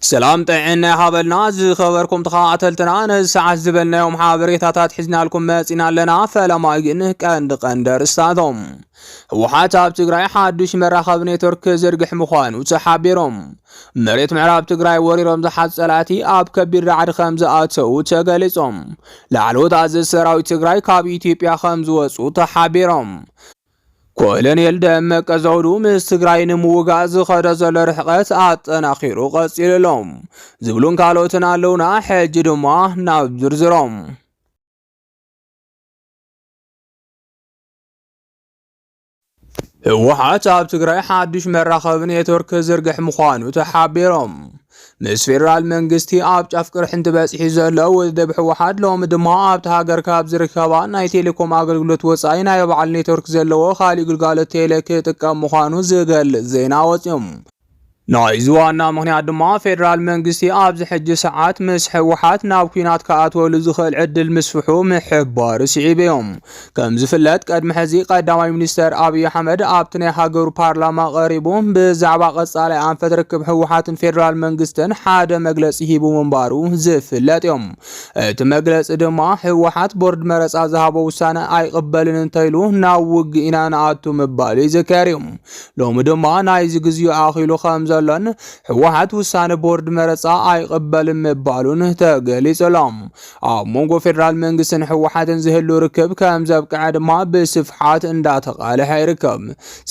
ሰላም ጥዕና ይሃበልና ዝኸበርኩም ተኸታተልትና ነዚ ሰዓት ዝበልናዮም ሓበሬታታት ሒዝናልኩም መጺና ኣለና። ፈለማ ግን ቀንዲ ቀንዲ ኣርእስታቶም ህወሓት ኣብ ትግራይ ሓዱሽ መራኸቢ ኔትወርክ ክዝርግሕ ምዃኑ ተሓቢሮም፣ መሬት ምዕራብ ትግራይ ወሪሮም ዝሓዙ ጸላእቲ ኣብ ከቢድ ራዕዲ ከም ዝኣተዉ ተገሊጾም፣ ላዕለዎት ኣዘዝቲ ሰራዊት ትግራይ ካብ ኢትዮጵያ ከም ዝወጹ ተሓቢሮም፣ ኮሎኔል ደመቀ ዘውዱ ምስ ትግራይ ንምውጋእ ዝኸደ ዘሎ ርሕቐት ኣጠናኺሩ ቀፂሉ ኣሎ ዝብሉን ካልኦትን ኣለውና። ሕጂ ድማ ናብ ዝርዝሮም ህወሓት ኣብ ትግራይ ሓዱሽ መራኸቢ ኔትወርክ ክዝርግሕ ምዃኑ ተሓቢሮም። ምስ ፌደራል መንግስቲ ኣብ ጫፍ ቅርሕንቲ በፂሑ ዘሎ ውድብ ህወሓት ሎሚ ድማ ኣብቲ ሃገር ካብ ዝርከባ ናይ ቴሌኮም ኣገልግሎት ወፃኢ ናይ በዓል ኔትወርክ ዘለዎ ካሊእ ግልጋሎት ቴሌ ክጥቀም ምዃኑ ዝገልፅ ዜና ወፂኡ። ናይዚ ዋና ምክንያት ድማ ፌደራል መንግስቲ ኣብዚ ሕጂ ሰዓት ምስ ህወሓት ናብ ኩናት ክኣትወሉ ዝኽእል ዕድል ምስፍሑ ምሕባሩ ስዒቡ እዮም። ከም ዝፍለጥ ቅድሚ ሕዚ ቀዳማይ ሚኒስተር ኣብዪ ኣሕመድ ኣብቲ ናይ ሃገሩ ፓርላማ ቀሪቡ ብዛዕባ ቀጻላይ ኣንፈት ርክብ ህወሓትን ፌዴራል መንግስትን ሓደ መግለጺ ሂቡ ምንባሩ ዝፍለጥ እዩ። እቲ መግለጺ ድማ ህወሓት ቦርድ መረጻ ዝሃቦ ውሳነ ኣይቕበልን እንተይሉ ናብ ውግእ ኢና ንኣቱ ምባሉ ይዝከር እዩ። ሎሚ ድማ ናይዚ ግዜኡ ኣኺሉ ከም ዘሎን ህወሓት ውሳነ ቦርድ መረጻ ኣይቕበልን ምባሉን ተገሊጹ ኣሎ። ኣብ መንጎ ፌደራል መንግስትን ህወሓትን ዝህሉ ርክብ ከም ዘብቅዐ ድማ ብስፍሓት እንዳተቓልሐ ይርከብ።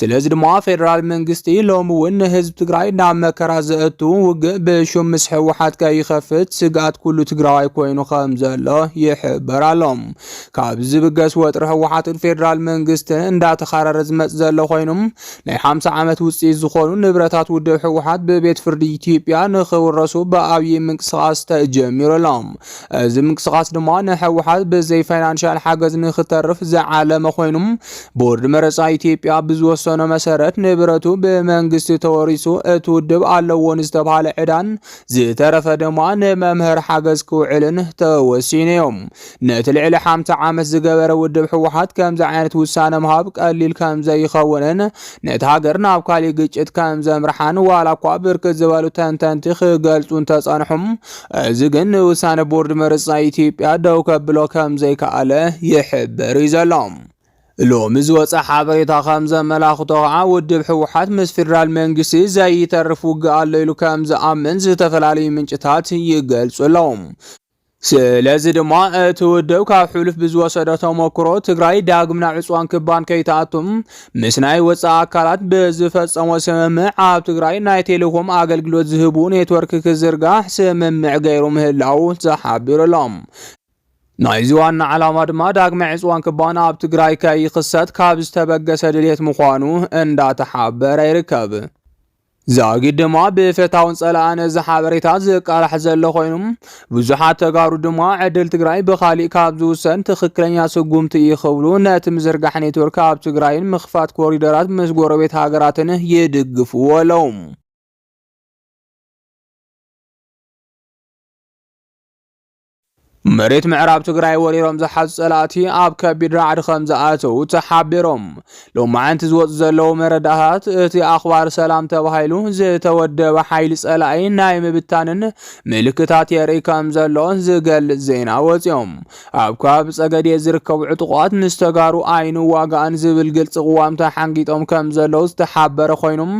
ስለዚ ድማ ፌደራል መንግስቲ ሎሚ እውን ንህዝቢ ትግራይ ናብ መከራ ዘእቱ ውግእ ብሹም ምስ ህወሓት ከይኸፍት ስግኣት ኩሉ ትግራዋይ ኮይኑ ከም ዘሎ ይሕበር ኣሎ። ካብ ዝብገስ ወጥሪ ህወሓትን ፌደራል መንግስትን እንዳተኻረረ ዝመፅ ዘሎ ኮይኑ ናይ ሓምሳ ዓመት ውፅኢት ዝኾኑ ንብረታት ውድብ ህወሓት ብቤት ፍርዲ ኢትዮጵያ ንክውረሱ ብኣብይ ምንቅስቓስ ተጀሚሩ ኣሎ። እዚ ምንቅስቓስ ድማ ንህወሓት ብዘይ ፋይናንሻል ሓገዝ ንክተርፍ ዝዓለመ ኮይኑ ቦርድ መረፃ ኢትዮጵያ ብዝወሰኖ መሰረት ንብረቱ ብመንግስቲ ተወሪሱ እቲ ውድብ ኣለዎ ንዝተባሃለ ዕዳን ዝተረፈ ድማ ንመምህር ሓገዝ ክውዕልን ተወሲኑ እዮም። ነቲ ልዕሊ ሓምሳ ዓመት ዝገበረ ውድብ ህወሓት ከምዚ ዓይነት ውሳነ ምሃብ ቀሊል ከም ዘይኸውንን ነቲ ሃገር ናብ ካሊእ ግጭት ከም ዘምርሓን ዋላ እኳ ብርክት ዝበሉ ተንተንቲ ክገልጹ እንተጸንሑም እዚ ግን ንውሳነ ቦርድ ምርጫ ኢትዮጵያ ደው ከብሎ ከም ዘይከኣለ ይሕበር እዩ ዘሎ። ሎሚ ዝወፀ ሓበሬታ ከም ዘመላኽቶ ከዓ ውድብ ህወሓት ምስ ፌዴራል መንግስቲ ዘይተርፍ ውግእ ኣሎ ኢሉ ከም ዝኣምን ዝተፈላለዩ ምንጭታት ይገልጹ ኣለዉ። ስለዚ ድማ እቲ ውድብ ካብ ሕሉፍ ብዝወሰዶ ተሞክሮ ትግራይ ዳግም ናብ ዕፅዋን ክባን ከይትኣቱም ምስ ናይ ወፃኢ ኣካላት ብዝፈፀሞ ስምምዕ ኣብ ትግራይ ናይ ቴሌኮም ኣገልግሎት ዝህቡ ኔትወርክ ክዝርጋሕ ስምምዕ ገይሩ ምህላው ተሓቢሩሎም። ናይዚ ዋና ዓላማ ድማ ዳግመ ዕፅዋን ክባን ኣብ ትግራይ ከይኽሰት ካብ ዝተበገሰ ድሌት ምዃኑ እንዳተሓበረ ይርከብ። ዛጊድ ድማ ብፈታውን ጸላእን እዚ ሓበሬታ ዝቃላሕ ዘሎ ኮይኑ ብዙሓት ተጋሩ ድማ ዕድል ትግራይ ብኻሊእ ካብ ዝውሰን ትኽክለኛ ስጉምቲ እዩ ክብሉ ነቲ ምዝርጋሕ ኔትወርክ ኣብ ትግራይን ምኽፋት ኮሪደራት ምስ ጎረቤት ሃገራትን ይድግፍዎ ኣለው። መሬት ምዕራብ ትግራይ ወሪሮም ዝሓዙ ጸላእቲ ኣብ ከቢድ ራዕዲ ከም ዝኣተዉ ተሓቢሮም። ሎማዕንቲ ዝወፁ ዘለዉ መረዳእታት እቲ ኣኽባር ሰላም ተባሂሉ ዝተወደበ ሓይሊ ጸላኢ ናይ ምብታንን ምልክታት የርኢ ከም ዘሎ ዝገልጽ ዜና ወፂኦም። ኣብ ከባቢ ጸገዴ ዝርከቡ ዕጡቋት ምስ ተጋሩ ኣይንዋጋእን ዝብል ግልፂ ቅዋም ተሓንጊጦም ከም ዘለዉ ዝተሓበረ ኮይኑም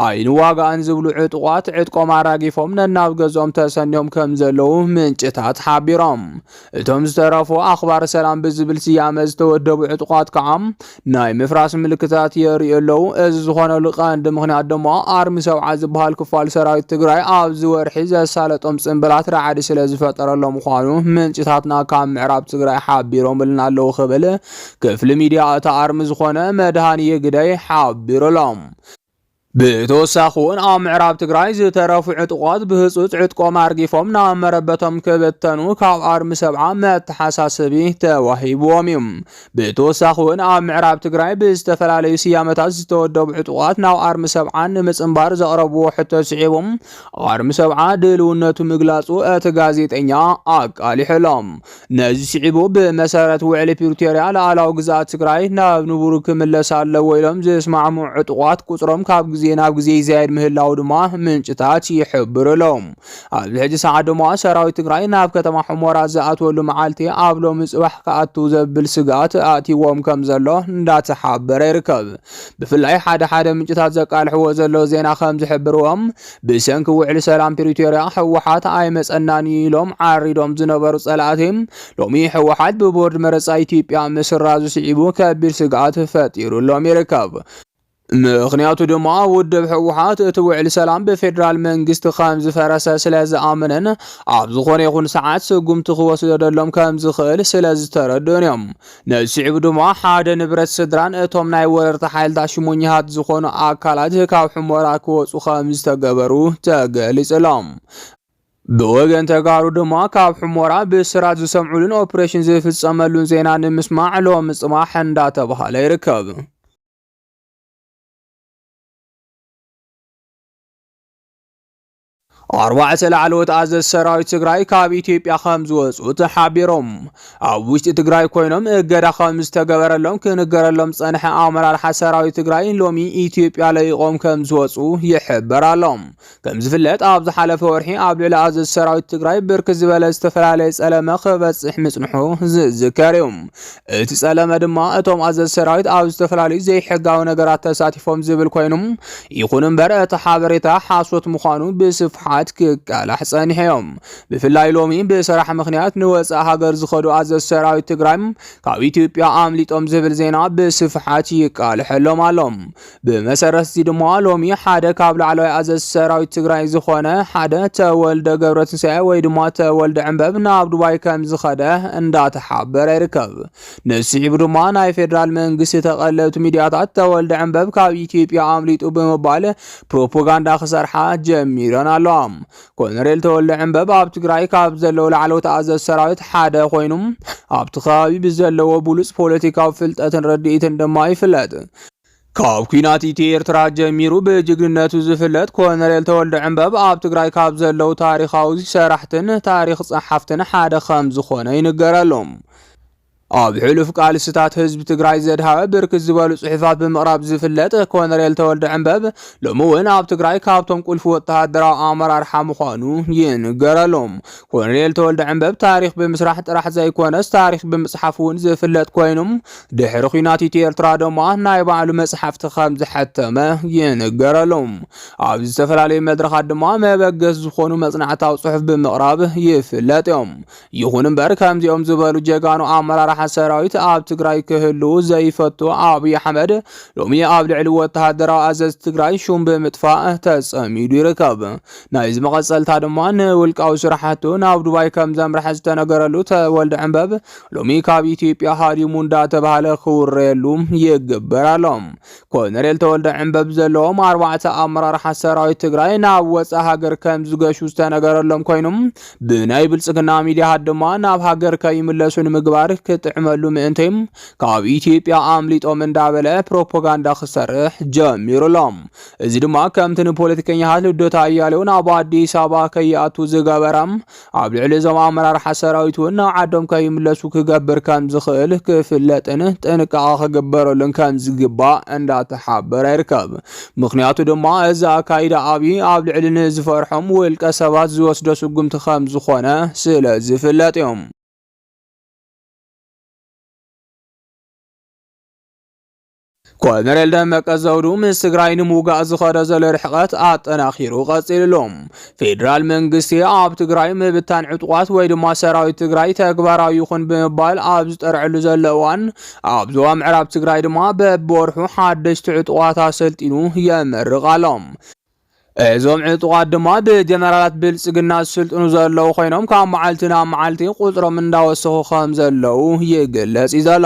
ኣይንዋጋእን ዝብሉ ዕጡቓት ዕጥቆም ኣራጊፎም ነናብ ገዝኦም ተሰንዮም ከም ዘለዉ ምንጭታት ሓቢሮም። እቶም ዝተረፉ ኣኽባር ሰላም ብዝብል ስያመ ዝተወደቡ ዕጡቓት ከዓ ናይ ምፍራስ ምልክታት የርእዩ ኣለዉ። እዚ ዝኾነሉ ቀንዲ ምኽንያት ድማ ኣርሚ ሰብዓ ዝበሃል ክፋል ሰራዊት ትግራይ ኣብዚ ወርሒ ዘሳለጦም ጽንብላት ራዕዲ ስለ ዝፈጠረሎም ምዃኑ ምንጭታትና ካብ ምዕራብ ትግራይ ሓቢሮምልና ኣለዉ ክብል ክፍሊ ሚዲያ እታ ኣርሚ ዝኾነ መድሃንየ ግደይ ሓቢሩሎም። ብተወሳኺ እውን ኣብ ምዕራብ ትግራይ ዝተረፉ ዕጡቋት ብህፁፅ ዕጥቆም ኣርጊፎም ናብ መረበቶም ክብተኑ ካብ ኣርሚ ሰብዓ መተሓሳሰቢ ተዋሂብዎም እዩ። ብተወሳኺ እውን ኣብ ምዕራብ ትግራይ ብዝተፈላለዩ ስያመታት ዝተወደቡ ዕጡቋት ናብ ኣርሚ ሰብዓ ንምፅምባር ዘቕረብዎ ሕቶ ስዒቡ ኣርሚ ሰብዓ ድልውነቱ ምግላፁ እቲ ጋዜጠኛ ኣቃሊሑሎም። ነዚ ስዒቡ ብመሰረት ውዕሊ ፕሪቶርያ ላዕላዊ ግዝኣት ትግራይ ናብ ንቡሩ ክምለስ ኣለዎ ኢሎም ዝስማዕምዑ ዕጡቋት ቁፅሮም ካብ ግዜ ናብ ግዜ ይዛየድ ምህላው ድማ ምንጭታት ይሕብሩ ኣለዉ። ኣብዚ ሕጂ ሰዓት ድማ ሰራዊት ትግራይ ናብ ከተማ ሑሞራ ዝኣትወሉ መዓልቲ ኣብ ሎሚ ጽባሕ ክኣቱ ዘብል ስግኣት ኣእትይዎም ከም ዘሎ እንዳተሓበረ ይርከብ። ብፍላይ ሓደ ሓደ ምንጭታት ዘቃልሕዎ ዘለዉ ዜና ከም ዝሕብርዎም ብሰንኪ ውዕሊ ሰላም ፕሪቶርያ ህወሓት ኣይመፀናን እዩ ኢሎም ዓሪዶም ዝነበሩ ፀላእቲ ሎሚ ህወሓት ብቦርድ መረፃ ኢትዮጵያ ምስራዙ ስዒቡ ከቢድ ስግኣት ፈጢሩሎም ይርከብ። ምኽንያቱ ድማ ውድብ ህወሓት እቲ ውዕሊ ሰላም ብፌዴራል መንግስቲ ከም ዝፈረሰ ስለ ዝኣመነን ኣብ ዝኾነ ይኹን ሰዓት ስጉምቲ ክወስደሎም ከም ዝኽእል ስለ ዝተረድኡን እዮም ንስዒቡ ድማ ሓደ ንብረት ስድራን እቶም ናይ ወረርቲ ሓይልታት ሽሞኛታት ዝኾኑ ኣካላት ካብ ሑመራ ክወፁ ከም ዝተገበሩ ተገሊፅሎም። ብወገን ተጋሩ ድማ ካብ ሑሞራ ብስራት ዝሰምዑሉን ኦፕሬሽን ዝፍፀመሉን ዜና ንምስማዕ ሎሚ ፅባሕ እንዳተባሃለ ይርከብ። ኣርባዕተ ላዕለዎት ኣዘዝቲ ሰራዊት ትግራይ ካብ ኢትዮጵያ ከም ዝወፁ ተሓቢሮም ኣብ ውሽጢ ትግራይ ኮይኖም እገዳ ከም ዝተገበረሎም ክንገረሎም ዝፀንሐ ኣመራርሓ ሰራዊት ትግራይ ሎሚ ኢትዮጵያ ለቂቖም ከም ዝወፁ ይሕበር ኣሎ። ከም ዝፍለጥ ኣብ ዝሓለፈ ወርሒ ኣብ ልዕሊ ኣዘዝቲ ሰራዊት ትግራይ ብርክ ዝበለ ዝተፈላለየ ፀለመ ክበፅሕ ምፅንሑ ዝዝከር እዩ። እቲ ጸለመ ድማ እቶም ኣዘዝ ሰራዊት ኣብ ዝተፈላለዩ ዘይሕጋዊ ነገራት ተሳቲፎም ዝብል ኮይኑ ይኹን እምበር እቲ ሓበሬታ ሓሶት ምዃኑ ብስፍሓት ክቃላሕ ጸኒሐዮም ብፍላይ ሎሚ ብስራሕ ምክንያት ንወፃእ ሃገር ዝኸዱ ኣዘዝ ሰራዊት ትግራይ ካብ ኢትዮጵያ ኣምሊጦም ዝብል ዜና ብስፍሓት ይቃልሐሎም ኣሎ ብመሰረት እዚ ድማ ሎሚ ሓደ ካብ ላዕለዋይ ኣዘዝቲ ሰራዊት ትግራይ ዝኾነ ሓደ ተወልደ ገብረትንሳኤ ወይ ድማ ተወልደ ዕንበብ ናብ ዱባይ ከም ዝኸደ እንዳተሓበረ ይርከብ። ንስዒቡ ድማ ናይ ፌዴራል መንግስቲ ተቐለብቲ ሚዲያታት ተወልደ ዕንበብ ካብ ኢትዮጵያ ኣምሊጡ ብምባል ፕሮፓጋንዳ ክሰርሓ ጀሚረን ኣለዋ። ኮሎኔል ተወልደ ዕንበብ ኣብ ትግራይ ካብ ዘለዉ ላዕለዎት ኣዘዝ ሰራዊት ሓደ ኮይኑ ኣብቲ ከባቢ ብዘለዎ ብሉፅ ፖለቲካዊ ፍልጠትን ርድኢትን ድማ ይፍለጥ። ካብ ኩናት ኢትዮ ኤርትራ ጀሚሩ ብጅግንነቱ ዝፍለጥ ኮነሬል ተወልደ ዕንበብ ኣብ ትግራይ ካብ ዘለው ታሪኻዊ ሰራሕትን ታሪኽ ጸሓፍትን ሓደ ከም ዝኾነ ይንገረሉ። ኣብ ሕሉፍ ቃልስታት ህዝቢ ትግራይ ዘድሃበ ብርክት ዝበሉ ጽሑፋት ብምቕራብ ዝፍለጥ ኮነሬል ተወልደ ዕንበብ ሎሚ እውን ኣብ ትግራይ ካብቶም ቁልፊ ወተሃደራዊ ኣመራርሓ ምዃኑ ይንገረሉ። ኮነሬል ተወልደ ዕንበብ ታሪኽ ብምስራሕ ጥራሕ ዘይኮነስ ታሪኽ ብምጽሓፍ እውን ዝፍለጥ ኮይኑ ድሕሪ ኲናት ኢትዮ ኤርትራ ድማ ናይ ባዕሉ መጽሓፍቲ ከም ዝሐተመ ይንገረሉ። ኣብ ዝተፈላለዩ መድረኻት ድማ መበገስ ዝኾኑ መጽናዕታዊ ጽሑፍ ብምቕራብ ይፍለጥ እዮም። ይኹን እምበር ከምዚኦም ዝበሉ ጀጋኑ ኣመራርሓ ሰራዊት ኣብ ትግራይ ክህልው ዘይፈቱ ኣብይ ኣሕመድ ሎሚ ኣብ ልዕሊ ወተሃደራዊ ኣዘዝ ትግራይ ሹም ብምጥፋእ ተጸሚዱ ይርከብ። ናይዚ መቐጸልታ ድማ ንውልቃዊ ስራሕቱ ናብ ዱባይ ከም ዘምርሐ ዝተነገረሉ ተወልደ ዕንበብ ሎሚ ካብ ኢትዮጵያ ሃዲሙ እንዳተባህለ ክውረየሉ ይግበር ኣሎ። ኮሎኔል ተወልደ ዕንበብ ዘለዎም ኣርባዕተ ኣመራርሓ ሰራዊት ትግራይ ናብ ወፃ ሃገር ከም ዝገሹ ዝተነገረሎም ኮይኑም ብናይ ብልፅግና ሚዲያሃት ድማ ናብ ሃገር ከይምለሱ ንምግባር ክጥዕመሉ ምእንቲ ካብ ኢትዮጵያ ኣምሊጦም እንዳበለ ፕሮፓጋንዳ ክሰርሕ ጀሚሩ ኣሎ። እዚ ድማ ከምቲ ንፖለቲከኛሃት ልደታ ኣያሌው ናብ ኣዲስ ኣበባ ከይኣቱ ዝገበረም ኣብ ልዕሊ እዞም ኣመራርሓ ሰራዊት እውን ናብ ዓዶም ከይምለሱ ክገብር ከም ዝኽእል ክፍለጥን ጥንቃቐ ክግበረሉን ከም ዝግባእ እንዳተሓበረ ይርከብ። ምክንያቱ ድማ እዚ ኣካይዳ ኣብዪ ኣብ ልዕሊ ንዝፈርሖም ውልቀ ሰባት ዝወስዶ ስጉምቲ ከም ዝኾነ ስለ ዝፍለጥ እዩ። ኮሎኔል ደመቀ ዘውዱ ምስ ትግራይ ንምውጋእ ዝኸደ ዘሎ ርሕቐት ኣጠናኺሩ ቀፂሉ ኣሎ። ፌዴራል መንግስቲ ኣብ ትግራይ ምብታን ዕጡቋት ወይ ድማ ሰራዊት ትግራይ ተግባራዊ ይኹን ብምባል ኣብ ዝጠርዐሉ ዘሎ እዋን ኣብ ዞባ ምዕራብ ትግራይ ድማ በብወርሑ ሓደሽቲ ዕጡቋት ኣሰልጢኑ የመርቕ ኣሎ። እዞም ዕጡቓት ድማ ብጀነራላት ብልፅግና ዝስልጥኑ ዘለዉ ኮይኖም ካብ መዓልቲ ናብ መዓልቲ ቁፅሮም እንዳወሰኹ ከም ዘለዉ ይግለጽ እዩ ዘሎ።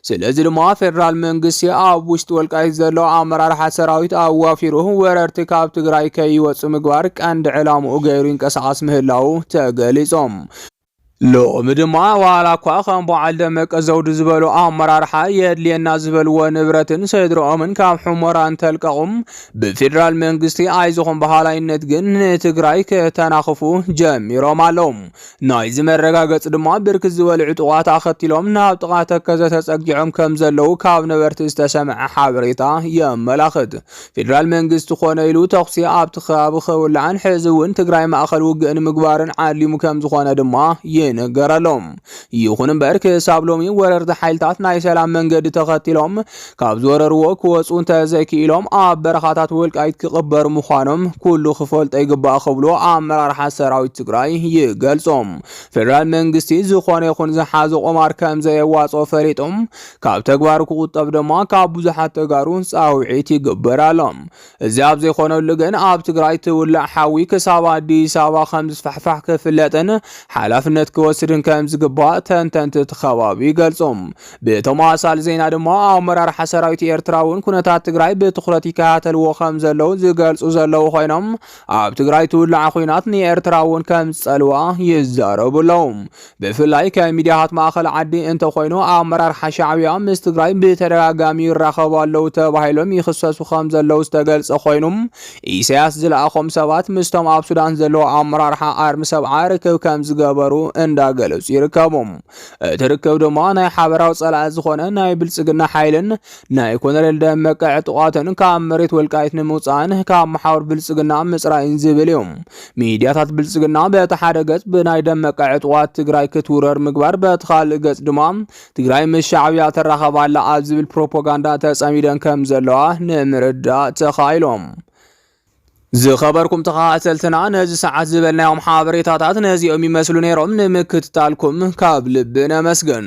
ስለዚ ድማ ፌደራል መንግስቲ ኣብ ውሽጢ ወልቃይት ዘሎ ኣመራርሓ ሰራዊት ኣዋፊሩ ወረርቲ ካብ ትግራይ ከይወፁ ምግባር ቀንዲ ዕላምኡ ገይሩ ይንቀሳቐስ ምህላዉ ተገሊጾም። ሎሚ ድማ ዋላኳ ከም በዓል ደመቀ ዘውዱ ዝበሉ ኣመራርሓ የድልየና ዝበልዎ ንብረትን ስድርኦምን ካብ ሑሞራ እንተልቀቑም ብፌዴራል መንግስቲ ኣይዞኹም በሃላይነት ግን ንትግራይ ከተናኽፉ ጀሚሮም ኣለዉ። ናይዚ መረጋገፂ ድማ ብርክት ዝበሉ ዕጡቓት ኣኸቲሎም ናብ ጥቓ ተከዘ ተፀጊዖም ከም ዘለዉ ካብ ነበርቲ ዝተሰምዐ ሓበሬታ የመላኽት። ፌደራል መንግስቲ ኮነ ኢሉ ተኹሲ ኣብቲ ከባቢ ከውላዕን ሕዚ እውን ትግራይ ማእኸል ውግእ ንምግባርን ዓሊሙ ከም ዝኾነ ድማ ይንገረሉ። ይኹን እምበር ክሳብ ሎሚ ወረርቲ ሓይልታት ናይ ሰላም መንገዲ ተኸቲሎም ካብ ዝወረርዎ ክወፁ እንተዘይክኢሎም ኣብ በረኻታት ወልቃይት ክቕበሩ ምዃኖም ኩሉ ክፈልጦ ይግባእ ክብሉ ኣመራርሓ ሰራዊት ትግራይ ይገልፆም። ፌደራል መንግስቲ ዝኾነ ይኹን ዝሓዞ ቁማር ከም ዘየዋፅኦ ፈሊጦም ካብ ተግባሩ ክቑጠብ ድማ ካብ ብዙሓት ተጋሩ ፃውዒት ይግበራሎም። እዚ ኣብ ዘይኾነሉ ግን ኣብ ትግራይ ትውላዕ ሓዊ ክሳብ ኣዲስ ኣበባ ከም ዝስፋሕፋሕ ክፍለጥን ሓላፍነት ክወስድን ከም ዝግባእ ተንተንቲ እቲ ከባቢ ይገልፁ። ብተመሳሳሊ ዜና ድማ ኣመራርሓ ሰራዊት ኤርትራ እውን ኩነታት ትግራይ ብትኹረት ይከታተልዎ ከም ዘለዉ ዝገልፁ ዘለዉ ኮይኖም ኣብ ትግራይ ትውላዕ ኹናት ንኤርትራ እውን ከም ዝፀልዋ ይዛረቡ ኣለዉ። ብፍላይ ከም ሚድያታት ማእኸል ዓዲ እንተኾይኑ ኣመራርሓ ሻዕብያ ምስ ትግራይ ብተደጋጋሚ ይራኸቡ ኣለው ተባሂሎም ይኽሰሱ ከም ዘለው ዝተገልጸ ኮይኑ ኢሳያስ ዝለኣኾም ሰባት ምስቶም ኣብ ሱዳን ዘለው ኣመራርሓ ኣርሚ ሰብዓ ርክብ ከም ዝገበሩ እንዳገለጹ ይርከቡ። እቲ ርክብ ድማ ናይ ሓበራዊ ጸላኢ ዝኾነ ናይ ብልጽግና ሓይልን ናይ ኮነሬል ደመቀ ዕጡቓትን ካብ መሬት ወልቃይት ንምውጻእን ካብ መሓውር ብልጽግና ምጽራይን ዝብል እዩ። ሚድያታት ብልፅግና በቲ ሓደ ገፅ ብናይ ደመቀ ዕጡቓት ትግራይ ክትውረር ምግባር፣ በቲ ካልእ ገፅ ድማ ትግራይ ምስ ሻዕብያ ትራኸብ ኣላ ኣብ ዝብል ፕሮፓጋንዳ ተፀሚደን ከም ዘለዋ ንምርዳእ ተኻኢሎም። ዝኸበርኩም ተኸታተልትና ነዚ ሰዓት ዝበልናዮም ሓበሬታታት ነዚኦም ይመስሉ ነይሮም። ንምክትታልኩም ካብ ልቢ ነመስግን።